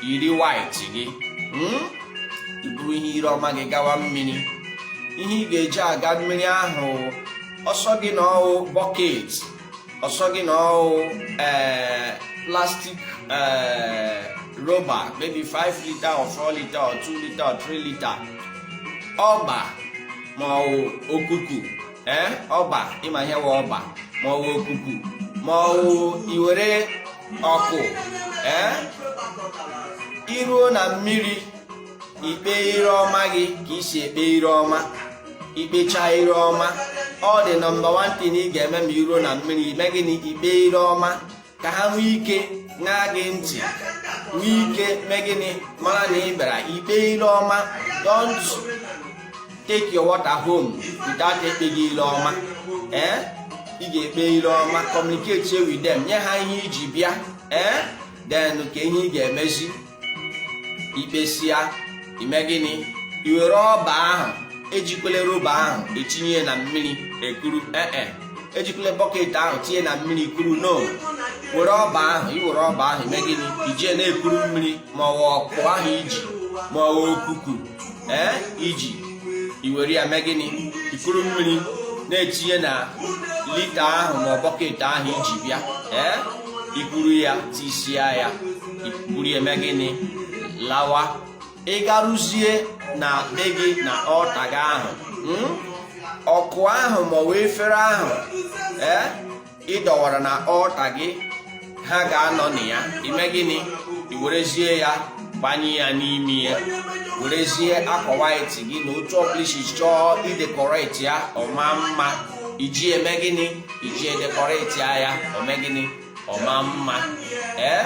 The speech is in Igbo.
yiri white gị hmm? iburu ihe ire ọma gị gawa mmiri ihe ị ga-eji aga mmiri ahụ ọ sọ gị na ọwụ bọket ọ sọ gị na ọwụ eh, plastic eh, roba maybe 5 lita or 4 lita or 2 lita or 3 lita ọba ma ọwụ okuku ee ọba ị ma ihe wụ ọba ma ọwụ okuku ma ọwụ iwere ọkụ ee iruo na mmiri ikpe ire ọma gị ka i si ekpe ire ọma ikpecha ire ọma ọ the number 1 thing ị ga-eme ma iruo na mmiri ime gịnị ikpe ire ọma ka ha nwee ike ṅaa gị ntị nwee ike mee gịnị mara na ị bịara ikpe ile ọma don't take your water home without ekpeghị ile ọma ee eh? ị ga-ekpe ile ọma communicate with them nye ha ihe i ji bịa ee eh? then ka ihe ị ga-emezi ikpesịa ime gịnị iwere ọba ahụ ejikwele roba ahụ etinye na mmiri ekuru ee eh, eh. ejikwele bọket ahụ tinye na mmiri kuru no were ọba ahụ iwere ọba ahụ ime gịnị ijie na-ekuru mmiri ma ọwụ ọkụ ahụ i ji ma ọwụ okuku ee eh, iji iwere ya mee gịnị ikuru mmiri na-etinye na lita ahụ ma ọ bọket ahụ i ji bịa ee ikuru ya tisia ya buru eme gịnị lawa ị garuzie na be gị na altar gị ahụ hmm? ọkụ ahụ maọbụ efere ahụ ee eh, ị dọwara na altar gị ha ga-anọ na ya ime gịnị i werezie ya gbanye ya n'ime ya werezie akwa white gị na otu ọbụla i si chọọ idecorate ya ọ maa mma iji eme gịnị iji edecorate ya ọ mee gịnị ọ maa mma ee eh?